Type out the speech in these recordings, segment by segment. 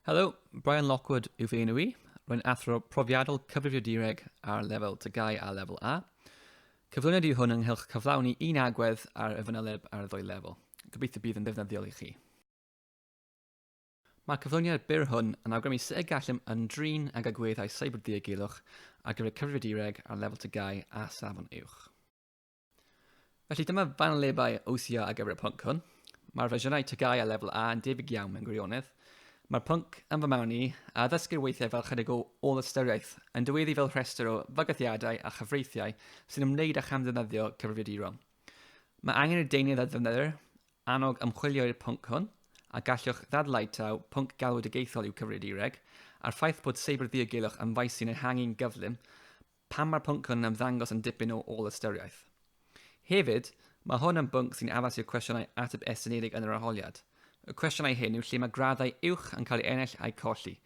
Helo, Brian Lockwood yw fy enw i. Rwy'n athro profiadol cyfrifio direg ar lefel tygau a lefel A. Cyflwyniad yw hwn ynghylch cyflawni un agwedd ar y fanyleb ar y ddwy lefel. Gobeithio bydd yn ddefnyddiol i chi. Mae'r cyflwyniad byr hwn yn awgrymu sut y gallem ymdrin ag agweddau seiberddiogelwch ar gyfer cyfrifiadureg ar lefel tygau a safon uwch. Felly dyma fanylebau OCR ar gyfer y pwnc hwn. Mae'r fersiynau tygau ar lefel A yn debyg iawn mewn gwirionedd. Mae'r pwnc, yn fy marn i, a ddysgir weithiau fel chydig o ôl-ystyriaeth, yn dyweddu fel rhestr o fygythiadau a chyfreithiau sy'n ymwneud â chamddefnyddio cyfrifiaduro. Mae angen i'r deunydd a ddefnyddir Annog ymchwilio i'r pwnc hwn, a gallwch ddadlau taw pwnc galwedigaethol yw cyfrifiadureg, a'r ffaith bod seiberddiogelwch yn faes sy'n ehangu'n gyflym, pam mae'r pwnc hwn yn ymddangos yn dipyn o ôl-ystyriaeth. Hefyd, mae hwn yn bwnc sy'n addas i'r cwestiynau ateb estynedig yn yr arholiad. Y cwestiynau hyn yw lle mae graddau uwch yn cael eu ennill a'u colli,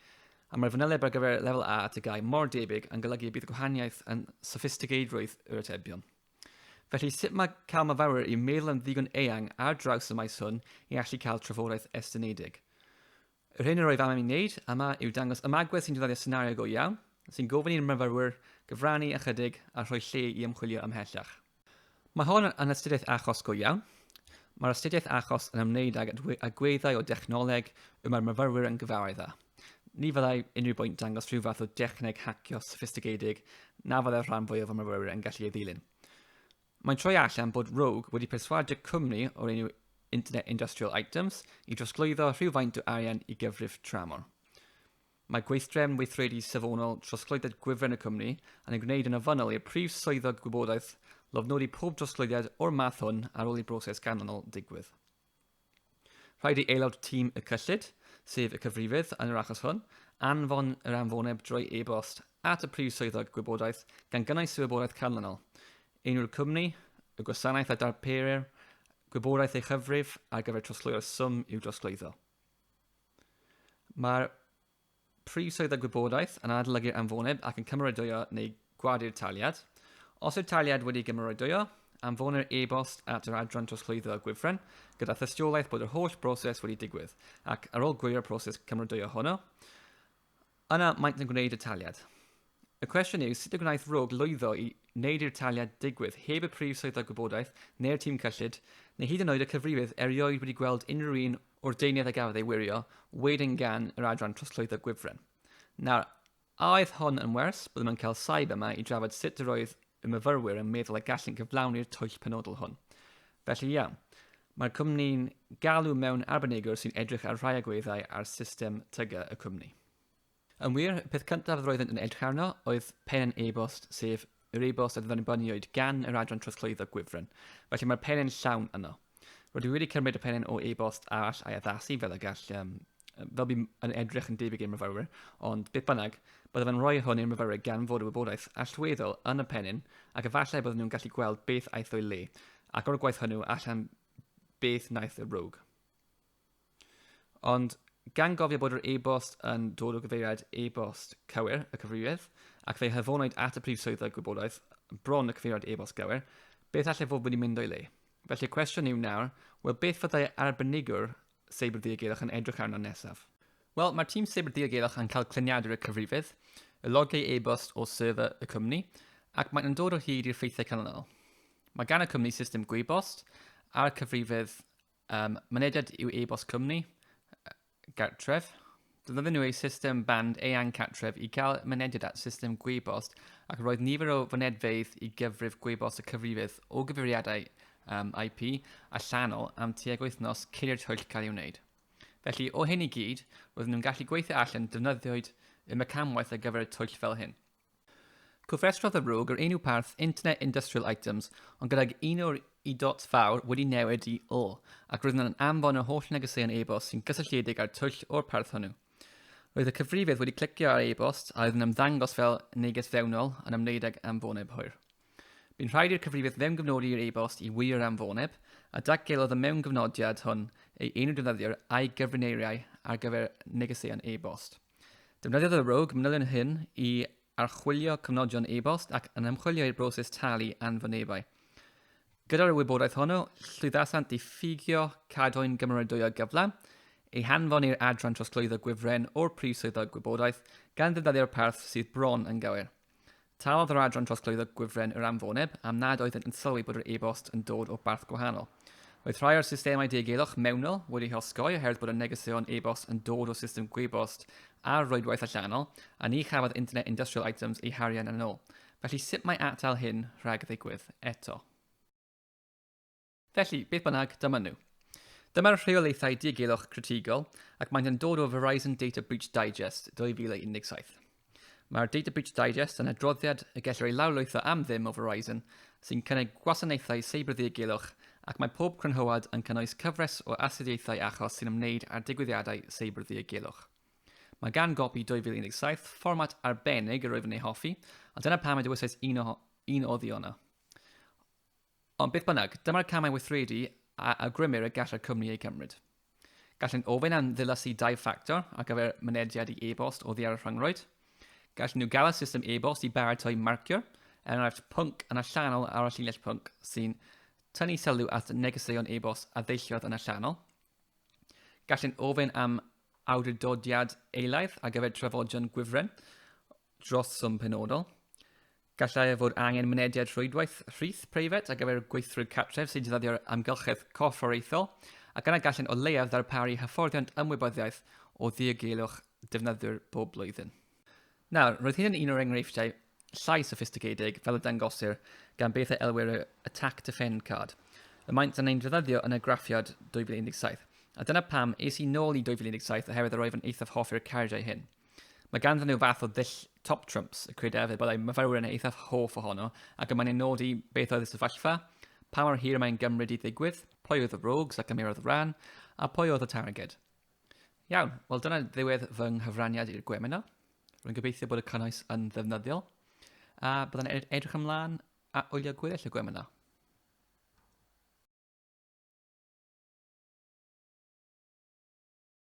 a mae'r fanyleb ar gyfer Lefel A a TGAU mor debyg yn golygu y bydd gwahaniaeth yn soffistigeiddrwydd yr atebion. Felly, sut mae cael myfyrwyr i meddwl yn ddigon eang ar draws y maes hwn i allu cael trafodaeth estynedig? Yr hyn yr oedd am i wneud yma yw dangos ymagwedd sy'n defnyddio senario go iawn, sy'n gofyn i'r myfyrwyr gyfrannu ychydig a rhoi lle i ymchwilio ymhellach. Mae hon yn astudiaeth achos go iawn. Mae'r astudiaeth achos yn ymwneud ag agweddau o dechnoleg y mae'r myfyrwyr yn gyfarwydd â. Ni fyddai unrhyw bwynt dangos rhyw fath o dechneg hacio soffistigedig na fyddai'r rhan fwyaf o myfyrwyr yn gallu ei ddilyn. Mae'n troi allan bod Rogue wedi perswadio cwmni o'r enw Internet Industrial Items i drosglwyddo rhywfaint o arian i gyfrif tramor. Mae gweithdrefn weithredu safonol trosglwyddiad gwifren y cwmni yn ei gwneud yn ofynnol i'r prif swyddog gwybodaeth lofnodi pob drosglwyddiad o'r math hwn ar ôl i broses ganlynol digwydd. Rhaid i aelod tîm y cyllid, sef y cyfrifydd yn yr achos hwn, anfon yr anfoneb drwy e-bost at y Prif Swyddog Gwybodaeth gan gynnwys y wybodaeth canlynol, enw'r cwmni, y gwasanaeth a darperir, gwybodaeth ei chyfrif ar gyfer trosglwyo'r swm i'w drosglwyddo. Mae'r Prif swydd a gwybodaeth yn adolygu'r anfoneb ac yn cymeradwyo neu gwadu'r taliad. Os yw'r taliad wedi gymeradwyo, anfonir e-bost at yr adran trosglwyddo a gwifren gyda thystiolaeth bod yr holl broses wedi digwydd ac, ar ôl gwirio'r proses cymeradwyo honno, yna maent yn gwneud y taliad. Y cwestiwn yw sut y gwnaeth Rogue lwyddo i wneud i'r taliad digwydd heb y Prif Swyddog Gwybodaeth neu'r tîm cyllid, neu hyd yn oed y cyfrifydd erioed wedi gweld unrhyw un o'r deunydd a gafodd ei wirio wedyn gan yr Adran Trosglwyddo Gwifren. Nawr, a oedd hon yn wers? Byddwn yn cael saib yma i drafod sut yr oedd y myfyrwyr yn meddwl y gallwn gyflawni'r twyll penodol hwn. Felly iawn, mae'r cwmni'n galw mewn arbenigwr sy'n edrych ar rhai agweddau ar system tyga y cwmni. Yn wir, y peth cyntaf yr oeddent yn edrych arno oedd pen yn e-bost, sef yr e-bost a ddyfyniwyd gan yr adran trosglwyddo gwifren, felly mae'r penne'n llawn yno. Rydw i wedi cymryd y penne'n o e-bost arall a'i addasu fel y gall, um, fel bydd yn edrych yn debyg i'r myfyrwyr, ond beth bynnag, byddaf yn rhoi hwn i'r myfyrwyr gan fod y wybodaeth allweddol yn y pennyn ac efallai byddwn nhw'n gallu gweld beth aeth o'i le, ac o'r gwaith hwnnw allan beth wnaeth y rogue. Ond gan gofio bod yr e-bost yn dod o gyfeiriad e-bost cywir y cyfrifydd, ac fe'i hafonwyd at y Prif Swyddog Gwybodaeth bron y cyfeiriad e-bost gywir, beth allai fod wedi mynd o'i le? Felly'r cwestiwn yw nawr, wel beth fyddai arbenigwr Seibr Ddiogelwch yn edrych arno nesaf? Wel, mae'r tîm Seibr Ddiogelwch yn cael cluniadur y cyfrifydd, y logiau e-bost o server y cwmni, ac maen nhw'n dod o hyd i'r ffeithiau canlynol. Mae gan y cwmni system gwybost a'r cyfrifydd Um, mynediad i'w e-bost cwmni, gartref. Dyna nhw ei system band eang cartref i gael mynediad at system gwybost ac roedd nifer o fynedfeydd i gyfrif gwybost y cyfrifydd o gyfeiriadau um, IP allanol am tuag wythnos cyn i'r twyll cael ei wneud. Felly, o hyn i gyd, roedden nhw'n gallu gweithio allan defnyddioed y mecanwaith ar gyfer y twyll fel hyn. Cofrestrodd y RUG yr enw parth Internet Industrial Items ond gydag un o'r i dot fawr wedi newid i o ac roedd yna'n anfon yr holl negeseuon e-bost sy'n gysylltiedig â'r twyll o'r parth hwnnw. Roedd y cyfrifydd wedi clicio ar e-bost a oedd yn ymddangos fel neges fewnol yn ymwneud ag anfoneb hwyr. Bu'n rhaid i'r cyfrifydd fewngyfnodi yr e-bost i wirio'r anfoneb, a datgelodd y mewngyfnodiad hwn ei enw defnyddiwr a'i gyfrineiriau ar gyfer negeseuon e-bost. Defnyddiodd y Rogue manylion hyn i archwilio cyfnodion e-bost ac yn ymchwilio i'r broses talu anfynebau. Gyda'r wybodaeth honno, llwyddasant i ffugio cadwyn gymeradwyo gyflawn, ei hanfon i'r adran trosglwyddo gwifren o'r Prif Swyddog Gwybodaeth gan ddefnyddio'r parth sydd bron yn gywir. Talodd yr Adran Trosglwyddo Gwifren yr anfoneb am nad oeddent yn sylwi bod yr e-bost yn dod o barth gwahanol. Roedd rhai o'r systemau diogelwch mewnol wedi'u hosgoi oherwydd bod y negeseuon e-bost yn dod o system gwybost ar rwydwaith allanol, a ni chafodd Internet Industrial Items eu harian yn ôl. Felly sut mae atal hyn rhag ddigwydd eto? Felly, beth bynnag, dyma nhw. Dyma'r rheolaethau diogelwch critigol ac maent yn dod o Verizon Data Breach Digest 2017. Mae'r Data Breach Digest yn adroddiad y gellir ei lawrlwytho am ddim o Verizon sy'n cynnig gwasanaethau seibrddiogilwch ac mae pob crynhoad yn cynnwys cyfres o astudiaethau achos sy'n ymwneud â digwyddiadau seibrddiogilwch. Mae gan gopi 2017 fformat arbennig yr wyf yn ei hoffi, a dyna pam y dywysais un o, un o ddiona. Ond beth bynnag, dyma'r camau weithredu a awgrymir y gallai'r cwmni eu cymryd. Gallant ofyn am ddilysy dau ffactor ar gyfer mynediad i e-bost oddi ar y rhyngrwyd. Gallan nhw gael y system e-bost i baratoi marciwr, er enghraifft pwnc yn allanol ar y llinell pwnc sy'n tynnu sylw at negeseuon e-bost a ddeilliodd yn allanol. Gallant ofyn am awdurdodiad eilaidd ar gyfer trafodion gwifren dros swm penodol. Gallai fod angen mynediad rhwydwaith rhith preifat ar gyfer gweithwyr cartref sy'n defnyddio'r amgylchedd corfforaethol, ac yna gallant o leiaf ddarparu hyfforddiant ymwybyddiaeth o ddiogelwch defnyddwyr bob blwyddyn. Nawr, roedd hyn yn un o'r enghreifftiau llai soffistigedig, fel y dangosir gan beth a elwir y Attack Defend Card, y maent yn ein defnyddio yn y graffiad 2017, a dyna pam es i nôl i 2017 oherwydd yr oeddwn eithaf hoffi'r cardiau hyn. Mae ganddyn nhw fath o ddull top trumps, y credaf efo byddai myfyrwyr yn eithaf hoff ohono, ac yma'n ei nod i beth oedd y sefyllfa, pa mor hir mae'n gymryd i ddigwydd, pwy oedd y rogues ac ymurodd y ran, a pwy oedd y targed. Iawn, wel dyna ddiwedd fy nghyfraniad i'r gwemina. Rwy'n gobeithio bod y cynnwys yn ddefnyddiol, a byddai'n edrych ymlaen a wylio gweddill y gwemina.